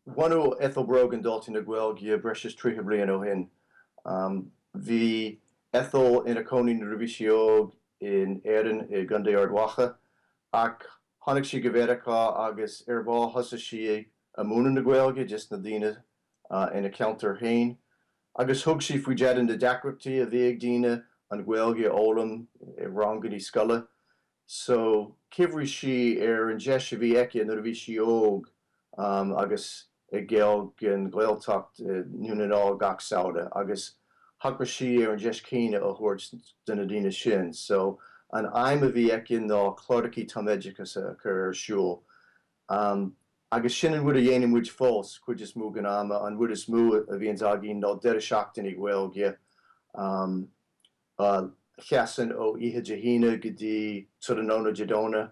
Bhunaigh Ethel Brogan Daltaí na Gaeilge breis is tríocha bliain ó shin. Bhí Ethel ina cónaí nuair a bhí sí óg in Éirinn i gContae Ard Mhacha ach tháinig sí go Mheiriceá agus ar ball thosaigh sí a múineadh na Gaeilge des na daoine ina ceantar féin agus thug sí faoi deara na deacrachtaí a bhí ag daoine an Ghaeilge a fhoghlaim i rangannaí scoile. so chuimhnigh sí ar an deis a bhí aici nuair a bhí sí óg agus ag goil don Ghaeltacht i nDún na nGall gach samhradh agus thogair sí ar an deis céanna a thabhairt do na daoine sin so an aidhm a bhí aici ná clárachaí tumoideachais a chur ar siúl agus sin an rud a dhéanann muid fós cuid is mó den am an rud is mó a bhíonn againn ná deireadh seachtaine Gaeilge Téann sé ó oíche Dé hAoine go dtí tráthnóna Dé Domhnaigh.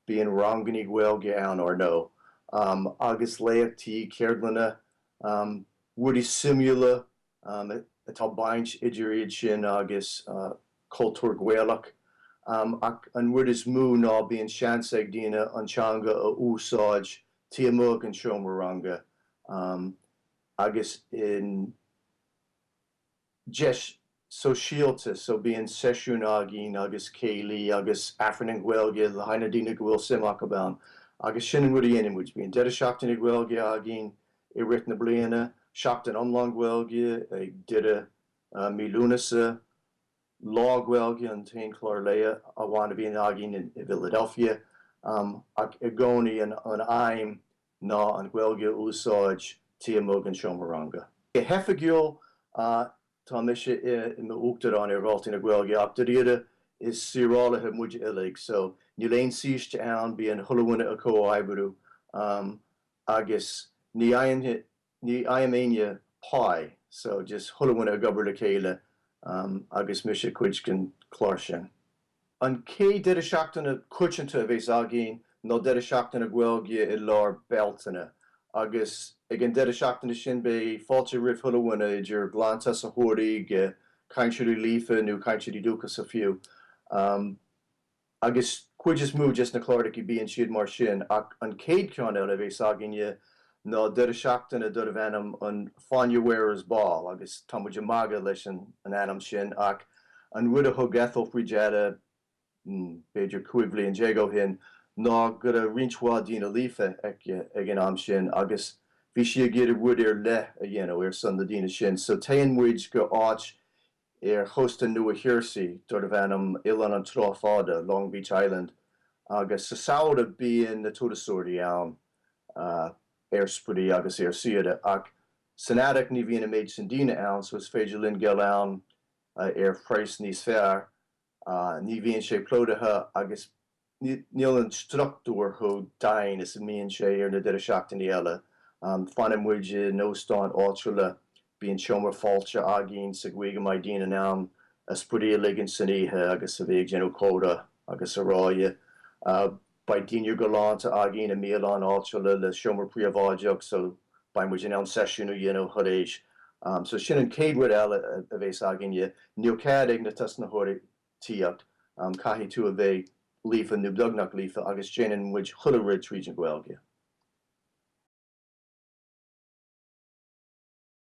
Bíonn rangannaí Gaeilge ann, ar ndó, agus léachtaí, ceardlanna, rudaí suimiúla atá baint idir iad sin agus cultúr Gaelach. Ach an rud is mó ná bíonn seans ag daoine an teanga a úsáid taobh amuigh den seomra ranga agus in deis sóisialta, so bíonn seisiúin againn agus céilí agus Aifreann i nGaeilge le haghaidh na daoine go bhfuil suim acu ann agus sin an rud a dhéanann muid. Bíonn deireadh seachtaine Gaeilge againn i rith na bliana, seachtain iomlán Gaeilge ag deireadh mí Lúnasa, Lá Gaeilge an t-aon chlár lae amháin a bhíonn againn i bhFiladelfia ach i gcónaí an aidhm ná an Ghaeilge a úsáid taobh amuigh den seomra ranga. Go hoifigiúil, tá mise i m'Uachtarán ar Dhaltaí na Gaeilge ach dáiríre is saorálaithe muid uilig so níl aon saoiste ann, bíonn chuile dhuine ag comhoibriú agus ní fhaigheann Ní fhaigheann aoinne páí so just chuile dhuine ag obair le chéile agus mise cuid den chlár sin. An céad deireadh seachtaine coitanta a bhéas againn ná deireadh seachtaine Gaeilge i lár Bealtaine agus ag an deireadh seachtaine sin beidh fáilte roimh chuile dhuine idir ghlantosaitheoirí go cainteoirí líofa nó cainteoirí dúchais fiú. agus cuid is mó des na clárachaí bíonn siad mar sin, ach an chéad ceann eile a bhéas againne ná deireadh seachtaine darb ainm an Fáinne Wearers' Ball, agus tá muid ag magadh leis an ainm sin, ach an rud a thug Ethel faoi deara, hmm, b'fhéidir cúig bhliain déag ó shin, ná go raibh roinnt mhaith daoine líofa aici ag an am sin agus bhí sí ag iarraidh rud ar leith a dhéanamh ar son na daoine sin, so téann muid go áit ar chósta Nua Gheirsí darb ainm Oileán an Trá Fada, Long Beach Island, agus sa samhradh bíonn na turasóirí ann ar spraoi agus ar saoire ach san earrach ní bhíonn an méid sin daoine ann so is féidir linn goil ann ar phraghas níos fearr, ní bhíonn sé plódaithe agus. Níl an struchtúr chomh dian is a bhíonn sé ar na deireadh seachtainí eile. Fanann muid in óstán áitiúil, bíonn seomra fáilte againn sa gcaoi go mbeidh daoine in ann a spraoi a ligint san oíche agus a bheith ag déanamh comhrá agus araile. Beidh dinnéar galánta againn i mbialann áitiúil le seomra príobháideach so beidh muid in ann seisiún a dhéanamh tar éis. So sin an chéad rud eile a bhéas againne, níl cead ag na tosnaitheoirí tíocht, caithfidh tú a bheith líofa nó beagnach líofa agus déanann muid chuile rud tríd an Ghaeilge.